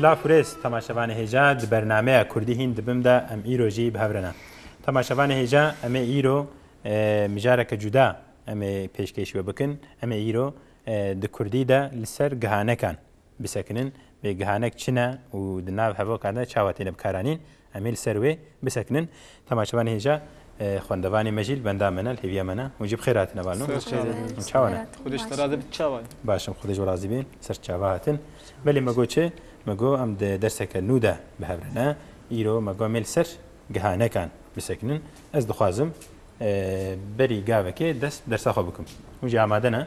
Silav û rêz temaşevanê hêja di bernameya Kurdî hîn dibim de em îro jî bi hev re ne. Temaşevanê hêja em ê îro mijareke cuda em ê pêşkêş we bikin. Em ê îro di Kurdî de li ser gihanekan bisekinin. Bê gihanek çi ne û di nav hevoka de çawa têne bikaranîn Em ê li ser wê bisekinin. Dema çavan hêja xwendevanê me jî li benda me ne, li hêviya me ne. Hûn jî bi xêr hatine balo. Ser çavan. Hûn çawa ne? Xwedê ji te razî bit çawa ye? Baş im, Xwedê ji we razî bê. Ser çava hatin. Belê me got çi? Me got em di derseke nû de bi hev re ne. Îro me got em ê li ser gihanekan bisekinin. Ez dixwazim berî gavekê dest bi dersa xwe bikim. Hûn jî amade ne?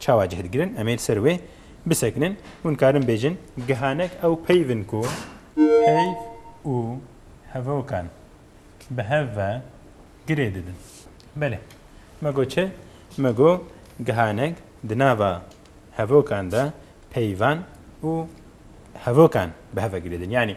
Çawa cih digirin em ê li ser wê bisekinin? Hûn karin bêjin gihanek ew peyv in ku peyv û hevokan bi hev ve girê didin. Belê. Me got çi? Me got gihanek di nava hevokan de peyvan û hevokan bi hev ve girê din. Yanî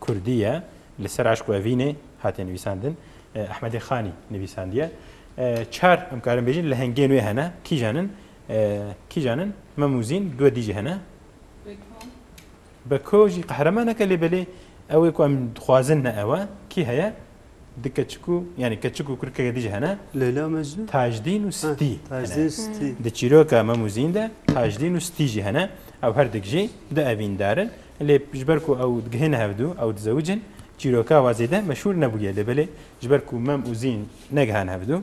Kurdî ye. Li ser eşq û evînê hatiye nivîsandin. Ehmedê Xanî nivîsandiye. Çar em karin bêjin lehengên wê hene. Kîjan in? Kîjan in? Mem û Zîn duwe dî jî hene. Beko. Beko jî qehremaneke lê belê ew ê ku em dixwazin ne ew e. Kî heye? Di keçik û yanî keçik û kurikek êdî jî hene. Leyla Mecnûn? Tajdîn û Stî hene. Di çîroka Memûzîn de Tajdîn û Stî jî hene. Ew her dik jî du evîndar in. Lê ji ber ku ew digihêne hev du, ew dizewicin, çîroka wa zêde meşhûr nebûye. Lê belê ji ber ku Mem û Zîn negihane hev du,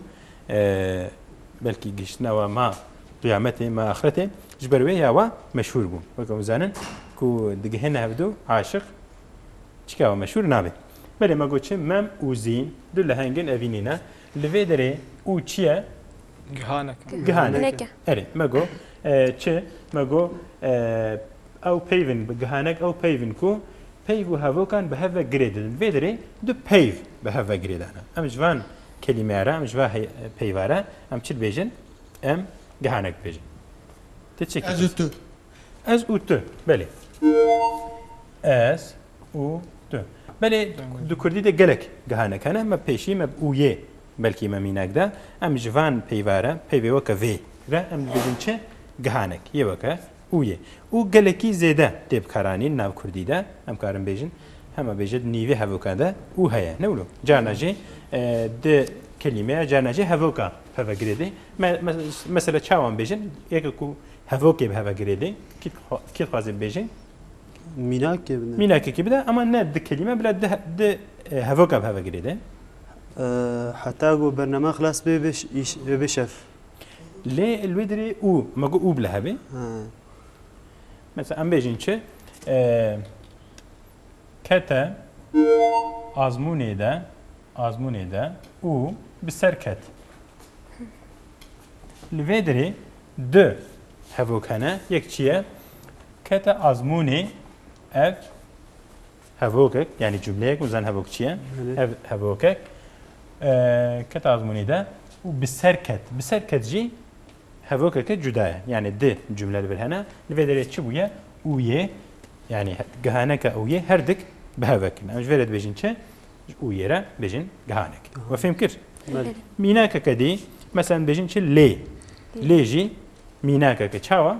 belkî gihiştina wa ma qiyametê, ma axretê ji ber wê ya wa meşhûr bû. Weke hûn zanin ku digihêne hev du aşiq çika wa meşhûr nabe. Belê me got çi? Mem û zîn du lehengên evînî ne. Li vê derê û çi ye? Gihanek e. Gihanek e. Erê, me got çi? Me got ew peyv in, gihanek ew peyv in ku peyv û hevokan bi hev ve girê didin. Vê derê du peyv bi hev ve girê dane. Em ji van kelîmeya re, em ji va peyva re em çi dibêjin? Em gihanek dibêjin. Ti çi kir? Ez û tu. Ez û tu, belê. Ez û tu. Belê di kurdî de gelek gihanek hene me pêşî me bi û yê belkî me mînak de em ji van peyva re peyvê weke vê re em dibêjin çi gihanek yê weke û yê û gelekî zêde tê bikaranîn nav kurdî de em karin bêjin hema bêje di nîvê hevokan de û heye ne wilo carna jî di kelîmeya carna jî hevoka peve girêdê me mesela çawan bêjin yeke ku hevokê bi heve girêdê kî kî dixwazê bêjin Mînakê bide. Mînakekî bide ama ne di kelîme bila di di e, hevoka bi heve girêde. Heta ku bername xilas bê bê îş bê bê şef. Lê li wê dirê û me got û bila hevê. Ha. Mesela em bêjin çi? E, kete azmûnê de azmûnê de û bi ser ket. Li vê dirê di hevok hene. Yek çi ye? Kete azmûnê ev hevokek yanî cumleyek û zen hevok çiye ev hevokek kete azmûnê de û bi ser ket bi ser ket jî hevokeke cuda ye yanî di cumle li vir hene li vê derê çi bûye û yê yanî gihaneke û yê her dik bi hevek em ji vê re dibêjin çi û yê re bêjin gihanek we fêm kir mînakeke dî mesen bêjin çi lê lê jî mînakeke çawa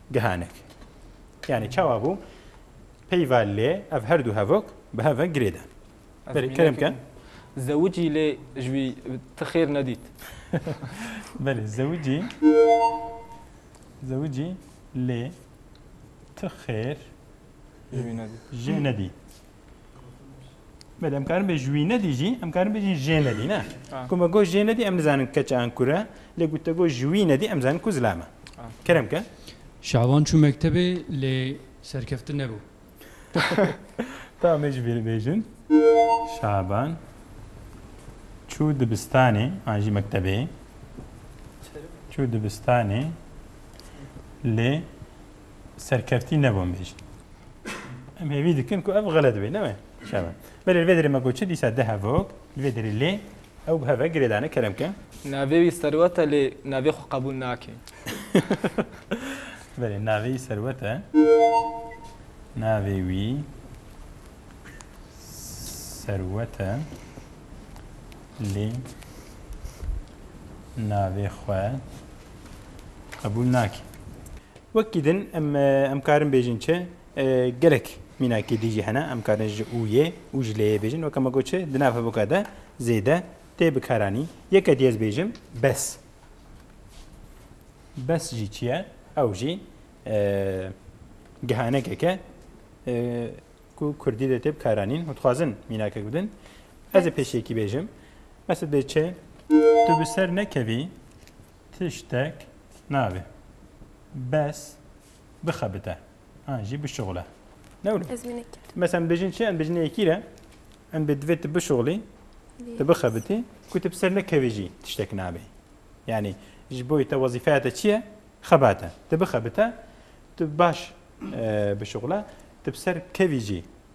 Gihanek. Yanî çawa bû? Peyva lê ev her du hevok bi hev ve girê dan. Berê kerem ke. Zewicî lê ji wî ti xêr nedît. Belê zewicî zewicî lê ti xêr jê nedît. Belê em karin bê ji wî nedî jî em karin bêjin jê nedî ne. Ku me got jê nedî em nizanin keç an kur e lê ku te got ji wî nedî em zanin ku zilam e. Kerem ke. Şaban çû mektebê lê serkeftin nebû. Tamam me jî vê bêjin. Şaban çû dibistanê an jî mektebê çû dibistanê lê serkeftî ne bo mêj. Em hêvî dikin ku ev xelet bê, ne me? Şeva. Belê li vê derê me got çi dîsa di hevok li vê derê lê ew bi hev e girêdane kerem ke. Navê wî serwet e lê navê xwe qebûl nake. Belê navê wî serwet e. Navê wî serwet e lê navê xwe qebûl nake. Wekî din em em karin bêjin çi gelek mînakî dî jî hene em karin ji û yê û ji lê yê bêjin weke me got çi di nav hevûka de zêde tê bikaranî yeke dî ez bêjim bes bes jî çi ye ew jî gihanekeke ku kurdî de tê bikaranîn û dixwazin mînakek bidin ez ê pêşekî bêjim Mesut Bey çi tu bi ser nekevî Tiştek nabe. Bes bixebite. An jî bişuxule. Ne wilo? Ez wî nekir. Mesela em dibêjin çi? Em dibêjin yekîr e. Em bê divê tu bişuxulî, tu bixebitî, ku tu bi ser nekevî jî tiştek nabe. Yanî ji bo te wezîfeya te çi ye? Xebat e. Tu bixebite, tu baş bişuxule, tu bi ser kevî jî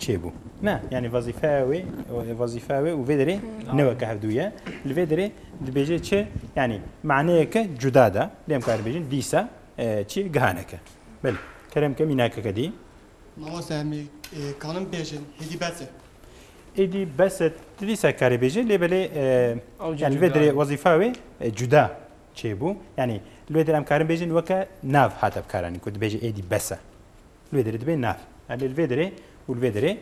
Çêbû. Ne, yanî wezîfeya wê wezîfeya wê û vê derê ne weke hevdû ye. Li vê derê dibêje çi yanî maneyeke cuda de lêm kar bêjin dîsa çi gihaneke. Bil kerem ke mînakeke dî. Mamoste hemî kanim bêjin hêdî bes e. Êdî bes e tu dîsa karê bêje lê belê yanî li vê derê wezîfa wê cuda çêbû. Yanî li vê derê em karin bêjin weke nav hate bikaranîn ku dibêje êdî bes e. Li vê derê dibe nav. Erlê li vê derê û li vê derê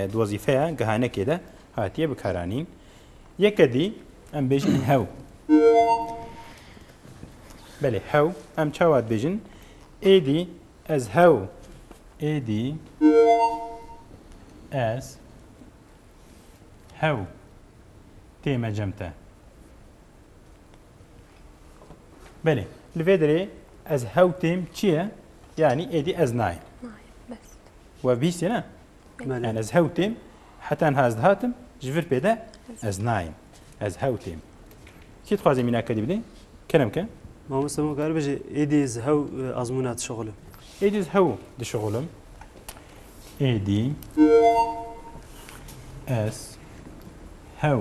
di wezîfeya gihanekê de hatiye bikaranîn. Yekedî em bêjin hew. Belê hew em çawa dibêjin? Êdî ez hew êdî ez hew tême cem te. Belê. Li vê derê ez hewtêm çi ye? Yanî êdî ez nayêm. We bîstî ne? Yani ez hewtêm heta niha ez dihatim ji vir pê de ez nayêm. Ez hewtêm. Kî dixwazê mîna kedî bidê? Kerem ke? Mamoste ma kar bêje êdî ez hew e, azmûna dişixulim. Êdî ez hew dişixulim. Êdî ez hew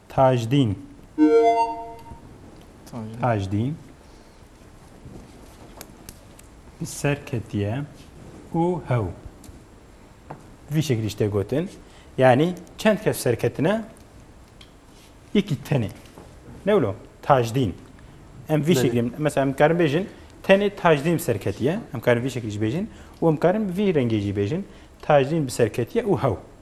Tajdîn Tajdîn bi ser ketiye û hew. Vî şekilî ji te gotin. Yanî çend kes ser ketine yekî tenê. Ne wilo? Tajdîn. Em vî şekilî mesela em karin bêjin tenê tajdîn bi ser ketiye. Em karin vî şekilî jî bêjin û em karin bi vî rengê jî bêjin tajdîn bi ser ketiye û hew.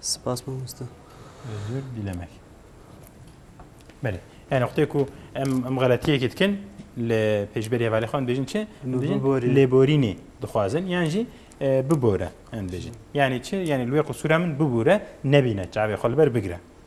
Spas mamoste. Özür dilemek. Belê. Yani noktaya ku em em xeletiyekê dikin li pêşberî hevalê xwe em dibêjin çi? Em dibêjin lêborînê dixwazin yan jî bibore em dibêjin. Yani çi? Yani li wê qisûra min bibûre nebîne çavê xwe li ber bigire.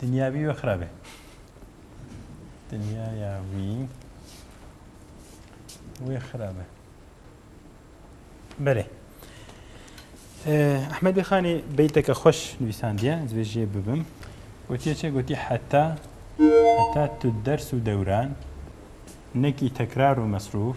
Dinya wî we xirabe. Dinyaya wî wê xirabe. Belê. Ehmedê Xanê beyteke xweş nivîsandiye, ez vê jê bibim. Gotiye çê gotî heta heta tu ders û dewran nekî tekrar û mesrûf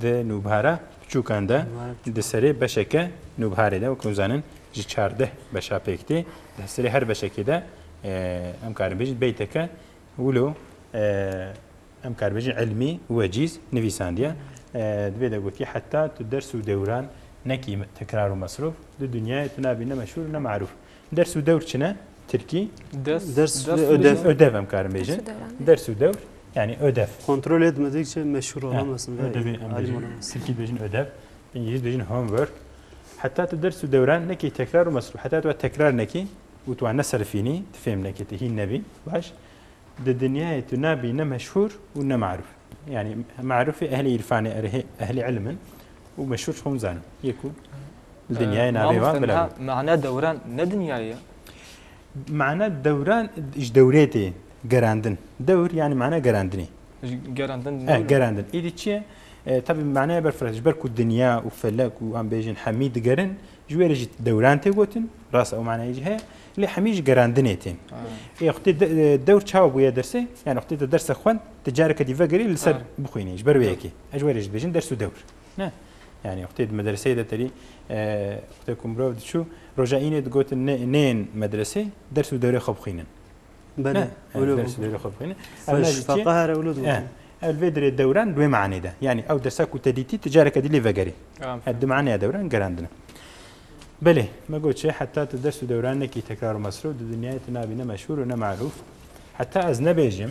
Di nûbara piçûkan de di serê beşeke nûbharê de wek hûn zanin ji çardeh beşa pêk tê. Di serê her beşekê de em karin bêjin beyteke wilo em kar bêjin ilmî wecîz nivîsandiye. Divê de gotiye heta tu ders û dewran nekî tekrar û mesrûf di dinyayê tu nabî ne meşhûr û ne marûf. Ders û dewr çine tirkî? Ders ve ödev. Ödev em karin bêjin. Ders û dewr yani ödev. Kontrol etmedikçe meşhur olamazsın. Ödev em bêjin. Tirkî bêjin ödev. İngiliz bêjin homework. Heta tu ders û dewran nekî tekrar û mesrûf. Heta tu tekrar nekî û tu neserfînî, tu fêm nekî, tu hîn nebî. Baş. Di dinyayê tu nabî ne meşhur û ne maruf. Yani marufê ehlê îrfanê, ehlê ilmin. û meşhûr ji xwe hûn zanin. Yê ku li dinyayê navê wan bila got. Mana dewran ne dinyayê ye. Mana dewran ji dewrê tê gerandin. Dewr yanî mana gerandinê. Gerandin. Gerandin. Îdî çi ye? Tevî manaya berfireh ji ber ku dinya û felek û em bêjin hemî digerin ji wê re jî dewran tê gotin. Rast ew manayê jî heye. Lê hemî ji gerandinê tê. Ê xwedê dewr çawa bûye dersê? Yani xwedê te derse xwend, te careke dî vegirî li ser bixwînî ji ber wê yekê. Ez ji we re jî dibêjim ders û dewr. Ne. Yani wextê di medreseyê de terî wextê ku mirov diçû roja înê digotin ne neyên medresê ders û dewrê xwe bixwînin. Belê. Ders û dewrê xwe bixwînin. Feqa here wilo digotin. Ev vê dirê dewran di wê manê de. Yani ew dersa ku te dîtî ti careke dî lê vegerî. Ev di maneya dewran gerandine. Belê, me got çê heta tu ders û dewran nekî tekrar û mesrû di dinyayê tu nabî ne meşhûr û ne merûf. Heta ez nebêjim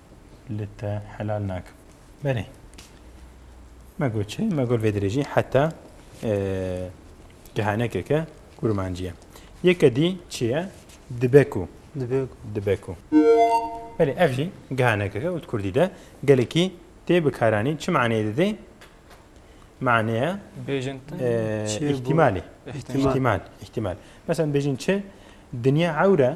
li te helal nakim. Belê. Me got çi? Me got vê dirêjî heta kehanekeke kurmancî ye. Yeke dî çi ye? Dibe ku. Dibe ku. Dibe ku. Belê ev jî kehanekeke û di kurdî de gelekî tê bikaranîn. Çi maneyê dide? Maneya bêjin îhtîmalê. Îhtîmal. Îhtîmal. Mesela bêjin çi? Dinya ewre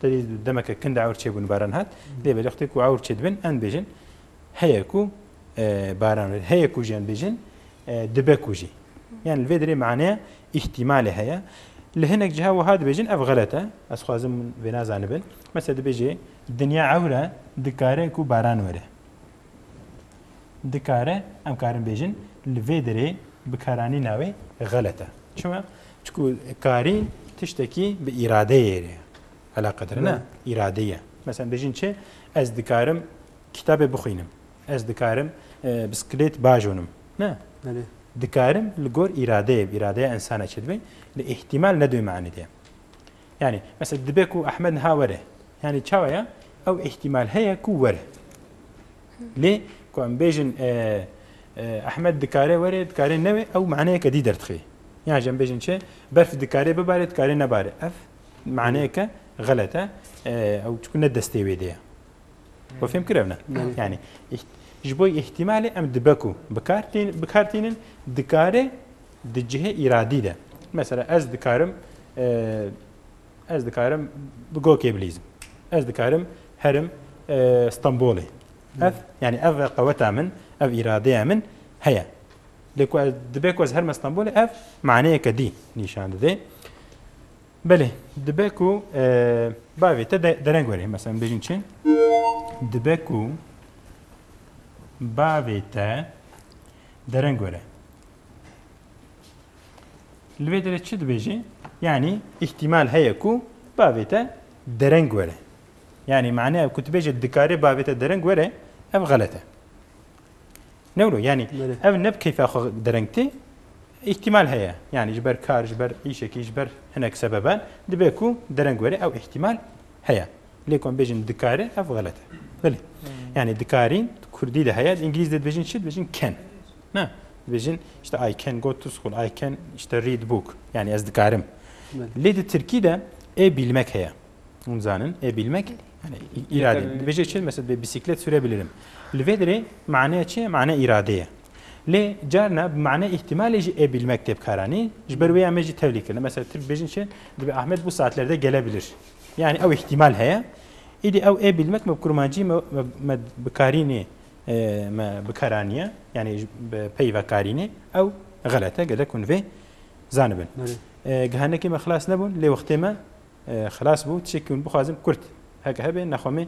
Tedî demeke kin de ewr çêbûn baran hat. Lê belê xwedê ku ewr çê dibin em dibêjin heye ku baran rê heye ku jî em bêjin dibe ku jî. Yani li vê derê maneya îhtîmalê heye. Li hinek ciha wiha dibêjin ev xelet e. Ez xwazim vê nazanibin. Mesela dibêjê dinya ewr e dikare ku baran were. Dikare, em karin bêjin li vê derê bikaranîna wê xelet e. Çima? Çku karîn tiştekî bi îradeyê re eleqedire ne, îradeyî ye. Meselen bêjin çi? Ez dikarim kitabê bixwînim. Ez dikarim bisikilêt bajonim. Ne. Belê. Dikarim li gor îradeyê, îradeya insana çi dibê? Lê îhtîmal ne duyma enî de. Yanî mesela dibe ku Ehmed niha were. Yanî çawa ye? Ew îhtîmal heye ku were. Lê ku em bêjin Ehmed dikare were, dikare neve ew maneyeke dî derdixe. Yan jî em bêjin çi? Berf dikare bibare, dikare nebare. Ev maneyeke xelet e. Ew çiku ne destê wê de ye. Xwe fêm kir ev ne. Yanî ji bo îhtîmalê em dibe ku bikar tînin, dikare Di cihê îradî de. Mesela ez dikarim ez dikarim bi gokê bilîzim. Ez dikarim herim Stenbolê. Ev yani ev qeweta min, ev îradeya min heye. Lê ku dibe ku ez herme Stenbolê ev maneyeke dî nîşan dide. Belê dibe ku bavê te dereng were mesela bêjin çi? Dibe ku bavê te dereng were. Li vê derê çi dibêjê? Yanî îhtîmal heye ku bavê te dereng were. Yanî maneya ku tu bêje dikarê bavê te dereng were ev xelet e. Newro yanî ev ne bi keyfa xwe dereng tê îhtîmal heye. Yanî ji ber kar ji ber îşekî ji ber hinek sebeban dibe ku dereng were ew îhtîmal heye. Lê ku em bêjin dikarê ev xelet e. Bilê. Yanî dikarî kurdî de heye, îngilîz de dibêjin çi dibêjin can. Ne, dibêjin işte I can go to school, I can işte read book. Yani ez dikarim. Lê di Tirkî de ê bilmek heye. Hûn zanin ê bilmek yani îrade. Dibêje çi mesela bê bisiklet sürebilirim. Li vê dirê maneya çi ye? Mane îrade ye. Lê carna bi mane îhtimalê jî ê bilmek tê bikaranî ji ber wê ya me jî tevlî kirine. Mesela Tirk bêjin çi dibê Ahmet bu saatlerde gelebilir. Yani ew îhtimal heye. Îdî ew ê bilmek me bi kurmancî me bikarînê Me bikaranîye yanî bi pey vekarînê ew xelet e gelek hûn vê zanibin. Gihanekê me xilas nebûn lê wextê me xilas bû çêkî hûn bixwazin kurt heke hebe nexwemê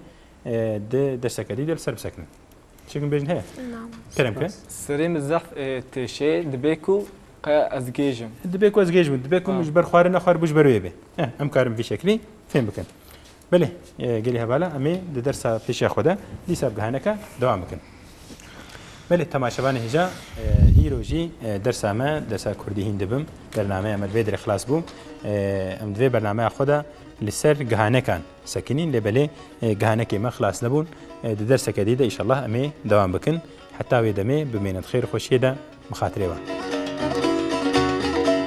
di derseke dî de li ser bisekinin. Çêkim bêjin heye kerem ke Serê min zehf têşê dibê ku qe ez gêjim. Dibê ku ez gêj bûn dibê ku min ji ber xwarin nexwar bû ji ber wê bê. Em karin vî şeklî fêm bikin. Belê gelê hevala em ê di dersa pêşiya xwe de dîsa bi heneke dewam bikin. Belê temaşevanê hêja îro jî dersa me dersa Kurdî hîn dibim. Bernameya me vê dirê xilas bû. Em di vê bernameya xwe de li ser gihanekan sekinîn lê belê gihanekê me xilas nebûn. Di derseke dî de îşallah em ê dewam bikin. Heta wê demê bimênin xêr xweşiyê de mixatirê wan.